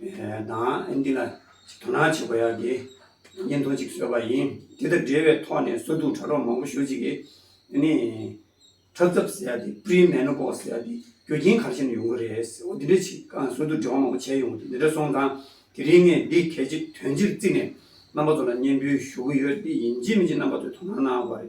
དང། འདི་ལ་དོ་སྣང་བྱེད་དགོས་ཡ་དེ་བརྙན་ཐུང་གཅིག་བཟོས་པ་ཡིན། དེ་དང་འབྲེལ་བའི་ཐོག་ནས་སོ་དུག་ཁྲ་རོག་མང་པོ་ཞོ་གཅིག་གིས་ནི། ཁྲག་ཚབ་ཟེར་ཡ་དེ Pre Menopause ཟེར་ཡ་དེ་རྒྱུ་རྐྱེན་གང་ཞིག་ནས་ཡོང་གི་རེད་ཟེར་འོ་དེ་འདྲའི་ཆེད་ཀང་སོ་དུག་འབྲེལ་བ་མང་པོ་བྱས་ཡོང་འདི་འདྲ་སོང་ཙང་དེ་རིང་ངས་འདི་གལ་ཆེ་དོན་ཆེར་བརྩིས་ནས་རྣམ་པ་ཚོ་ལ་སྙན་འབུལ་ཞུ་གི་ཡོད་འདི་ཡིན་གཅིག་མིན་གཅིག་རྣམ་པ་ཚོས་དོ་སྣང་གནང་བར།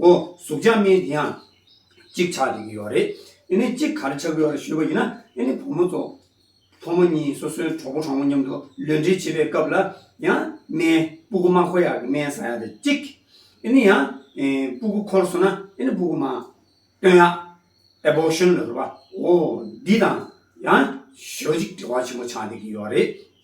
ཨོ། གཟུགས་ཆགས་མེད་དེ་ཡང་གཅིག་ཆགས་བྱེད་ཀྱི་ཡོད་རེད། དེ་ནས་གཅིག་ག་རེ་ཆགས་ཀྱི་ཡོད་རེད་ཞུས་པ་ཡིན་ན། དེ་ནས་བུ་མོ་ཚོ། ཕོ་མོ་གཉིས་སོ་སོའི་གྲོགས་པོ་གྲོགས་མོ་མཉམ་དུ་ལུས་འབྲེལ་བྱེད་པའི་སྐབས་ལ་ཡང། སྨན། སྤུ་གུ་མ་འཁོར་ཡག་གི་སྨན་ཟ་ཡག་དེ་གཅིག། དེ་ནས་ཡང། སྤུ་གུ་འཁོར་སོང་ན་དེ་ནས་སྤུ་གུ་མ། སྟོན་ཡག། Abortion། ལ་ཟེར་བ། ཨོ། འདི་དང། ཡང། ཞོ་གཅིག་འབྲེལ་བ་ཆེན་པོ་ཆགས་བསྡད་ཀྱི་ཡོད་རེད།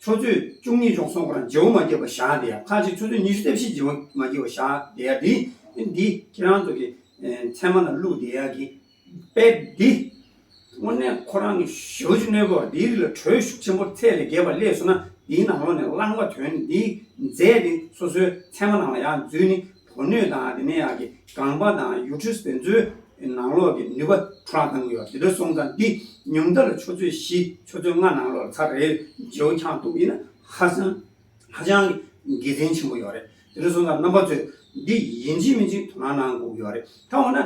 ཆོས་ཚུལ་བཅུ་གཉིས་སྦྱོང་གསུམ་གོ་རང་རྗེའུ་མ་བརྒྱད་པོ་བཞག་འདི་ཡང་ཁ་ཅིག་ཆོས་ཚུལ་ཉི་ཤུ་རྩ་བཞི་རྗེའུ་མ་བརྒྱད་པོ་བཞག་འདི་ཡང་འདི་འདི་ཁྱེད་རང་ཚོ་གི་མཚན་མ་ལ་བླུགས་འདི་ཡང་གི་དཔེ་འདི། དངོས་གནས་ཁོ་རང་གི་ཞི་བ་བཅུ་གནས་པོར་འདིའི་རིགས་ལ་དྲོད་ཤུགས་ཆེན་པོར་ཚད་ལས་བརྒལ་བ་སླེས་སོང་ན་འདིའི་ནང་ལོགས་ནས་བླངས་པ་དོན་འདིའི་རྫས་འདི་སོ་སོའི་མཚན་མ་ནང་ལ་ཡང་འཛུལ་ནི་དོ་ནུས་དང་དེ་ནས་ཡང་གི་སྒང་པ་དང་ཡུལ་གྲུ་བོན་ཚོའི་ནང་ལོགས་ཀྱི་ནུས་པ་འཕྲོ་བརླག་བཏང་གི་ཡོད་དེ་འདྲ་སོང་ཙང་འདི་ཉུང་མཐའ་ལ་ཆུ་ཚོད་བཞི་ཆུ་ཚོད་ལྔ་ནང་ལོགས་ལ་ཚ་རེ་རྗེའུ་འཁྱག་འཐུག་གི་ཡིན་ན་ཧ་སང་ཧ་ཅང་གི་དགེ་མཚན་ཆེན་པོ་ཡོད་རེད་དེ་འདྲ་སོང་ཙང་རྣམ་པ་ཚོས་འདི་ཡིན་གཅིག་མིན་གཅིག་དོ་སྣང་གནང་དགོས་ཀྱི་ཡོད་རེད་ད་འོ་ན།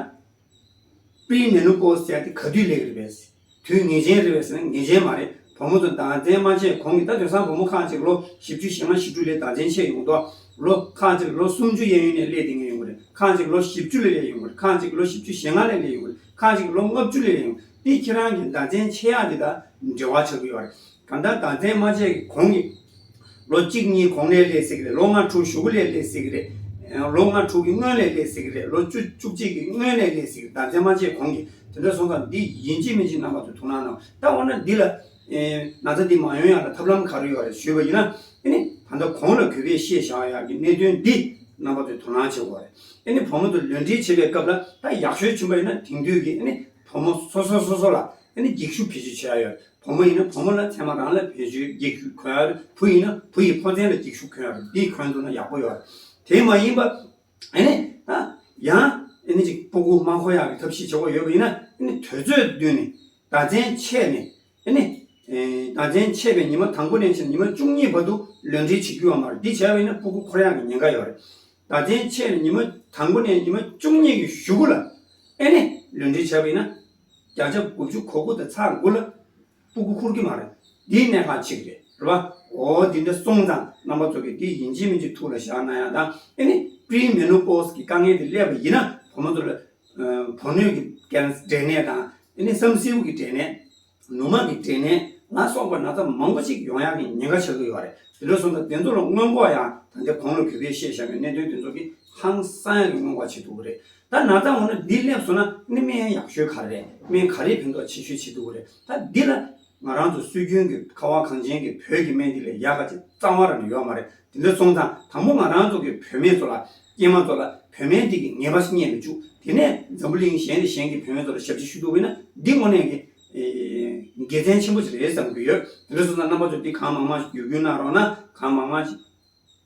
པའི་མེ་ནུ་པོ་ཟེར་ཏེ་ག་དུས་ལེགས་རེད་པས། དུས་ངེས་ཅན་རེད་བས་ཟེར་ན་ངེས་ཅན་མ་རེད་བུ་མོ་ཚོ་འདང་བཙན་མ་བྱས་གོང་གི་ད་དོན་སང་བུ་མོ་ཁག་ཅིག་ལོ་བཞི་བཅུ་ཞེ་ལྔ་ཞེ་དྲུག་ལས་འདང་བཙན་ཆད་ཡོང་དོགས། ལོ་ཁག་ཅིག་ལོ་སུམ་ཅུ་གཡས་གཡོན་ནས་ལས་དེ་ངས་ཡོང་གི་རེད་ཁག་ཅིག་ལོ་བཞི་བཅུ་ལས་ལས་ཡོང་གི་རེད་ཁག་ཅིག་ལོ་བཞི་བཅུ་ཞེ་ལྔ་ལས་ལས་ཡོང་གི་རེད་ཁག་ཅིག་ལོ་ལྔ་བཅུ་ལས་ལས་ཡོང་གི་རེད་དེ་ཁྱེད་རང་གི་འདང་བཙན་ཆད་ཡག་འདི་དང་འབྲེལ་བ་ཆགས་ཀྱི་ཡོད་རེད། ད་ལྟ་ད་ལྟའི་སྨྲ་ལྕེ་གི་གོང་གི། ལོ་གཅིག་གཉིས་གོང་ནས་ལས་སྲིད་ཀྱི་རེད་ལོ་ལྔ་དྲུག་བཞུགས་ལས་ལས་སྲིད་ཀྱི་རེད། ལོ་ལྔ་དྲུག་གི་སྔོན་ལས་ལས་སྲིད་ཀྱི་རེད་ལོ་བཅུ་བཅུ་གཅིག་གི་སྔོན་ལས་ལས་སྲིད་ཀྱི་ད་ལྟའི་སྨྲ་ལྕེ་གོང་གི་དེ་འདྲ་སོང་ཙང་འདི་ཡིན་གཅིག་མིན་གཅིག་རྣམ་པ་ཚོས་ཐུགས་སྣང་གནང་ད་འོ་ན་འདི་ལ། ན་ཚ་འདི་མ་ཡོང་ཡག་ལ་ཐབས་ལམ་ག་རེ་ཡོད་རེད་ཞུས་པ་ཡིན་ན། ཨེ་ནི་ད་ལྟ་གོང་ལ་གུས་པས་ཤེས་བྱའོ་ཡག་གི་གནད་དོན་འདི་རྣམ་པ་ཚོས་དོ་སྣང་བྱེད་དགོས་རེད་ཨེ་ནི་བུ་མོ་དེ་ལུས་འབྲེལ་བྱེད་པའི་སྐབས་ལ་ད་ཡག་ཤོས་བྱིན་པ་ཡིན་ན་དེང་དུས་ཀྱི་ཨེ་ནི་བུ་མོ་སོ་སོ་སོ་སོ་ལ་ཨེ་ནི་འགྱིག་ཤུབས་བེད་སྤྱོད་བྱེད་ཡག་ཡོད་རེད། བུ་མོ་ཡིན་ན་བུ་མོ་ལ་མཚན་མ་རང་ལ་བེད་སྤྱོད་རྒྱག་ཤུགས་འཁོལ་བུ་ཡིན་ན་བུ་ཡི་ཕོ་མཚན་ལ་འགྱིག་ཤུགས་འཁོལ་འདི་འཁོལ་འདུག་ན་ཡག་པོ་ཡོད་དེ་མ་ཡིན་པ་ཨེ་ནས་ད་ཡང་ཨེ་ནས་ཅིག་པོ་ཀུ་མང་ཁོ་ཡག་གི་ཐབས་ཤེས་བྱེད་དགོས་ཡོད་པ་ཡིན་ན་ཨེ་ནས་དོལ་ཚོད་བསྡུས་ནས་ད་བཙན་ཆད་ནས་ཨེ་ནས་ད་བཙན་ཆད་པའི་ཉི་མ་དང་པོ་ནས་བཞིན་ཉི་མ་བཅུ་གཉིས་བར་དུ་ལོས་འབྲེལ་བྱེད་རྒྱུ་ཡོད་མ་རེད་འདི་བྱས་པ་ཡིན་ན་པོ་ཀུ་ཁོར་ཡག་གི་ཉེན་ཁ་ཡོད་རེད་ད་བཙན་ཆད་ནས་ཉི་མ་དང་པོ་ནས་ཉི་མ་བཅུ་གཉིས་ཀྱི་གཞུག་གུ་ལ་ཨེ་ནས་ལོས་འབྲེལ་བྱས་པ་ཡིན་ན་བརྒྱ་ཆ་དགུ་བཅུ་གོ་དགུ་དེ་ཚ་དགུ་ལ་སྤུ་གུ་ཁུར་གི་མ་རེད་འདིའི་གནས་ཁང་ཆིག་རེད་རེད་པ་འོ་འདི་འདྲ་སོང་ཙང་རྣམ་པ་ཚོ་གི་འདི་ཡིན་གཅིག་མིན་གཅིག་ཐུགས་ལ་བཞག་ན་ཡང་ད་ཨེ་ནི་སྤྲིའི་མེ་ལོང་པོས་ཀྱི་དཀའ་ངལ་དེ་སླེབས་པ་ཡིན་ན་བུ་མོ་ཚོ་ལ་བུ་སྣོད་ཀྱི་འགན་འབྲས་ནད་དང་ཨེ་ནི་བསམ་སེའུ་གི་འབྲས་ནད་ནུ་མ་གི་འབྲས་ནད་ལ་སོགས་པ་ན་ཚ་མང་པོ་ཅིག་ཡོང་ཡག་གི་ཉེན་ཁ་ཆགས་ཀྱི་ཡོད་རེད་དེ་འདྲ་སོང་ཙང་དེ་ཚོ་ལ་སྔོན་འགོག་ཡང་ད་ལྟའི་གོང་ལ་བུད་པས་ཤེས་བཞག་གི་གནད་དོན་དེ་ཚོ་གི་ཧང་སང་ཡག་གི་སྔོན་འགོག་བྱེད་ཐུབ་ཀྱི་རེད་ད་ནག་ཚང་འོ་ན་འདི་སླེབས་སོང་ན་ནི་སྨན་ཡག་ཤོས་ག་རེ་རེད་སྨན་ག་རེའི་ཕན་ཐོག་ཆེ་ཤོས་བྱེད་འདུག་གོ་རེད་ད་འདི་ལ། ང་རང་ཚོ་སྲོལ་རྒྱུན་གྱི་ཁ་བ་གངས་ཅན་གྱི་བོད་ཀྱི་སྨན་འདི་ལས་ཡག་ག་ཅིག་གཙང་བ་ར་ནི་ཡོད་མ་རེད་དེ་འདྲ་སོང་ཙང་དང་པོ་ང་རང་ཚོ་གི་བོད་མེད་ཚོ་ལ། སྐྱེས་མ་ཚོ་ལ་བོད་སྨན་འདི་གི་ངེས་པ་ཞིག་རྙེད་མི་བཅུག་དེ་ནས་འཛམ་བུ་གླིང་གཞན་ནས་གཞན་གྱི་བོད་མེད་ཚོ་ལ་ཞབས་ཕྱི་ཞུ་འདུག་བས་ན་འདི་དངོས་གནས་ཀྱི། དགེ་མཚན་ཆེན་པོ་ཞིག་རེད་བསམ་གྱི་ཡོད་དེ་འདྲ་སོང་ཙང་རྣམ་པ་ཚོ་འདི་གང་མང་མང་ཞིག་བརྒྱུད་སྐུལ་གནང་རོགས་ན་གང་མང་མང་ཞིག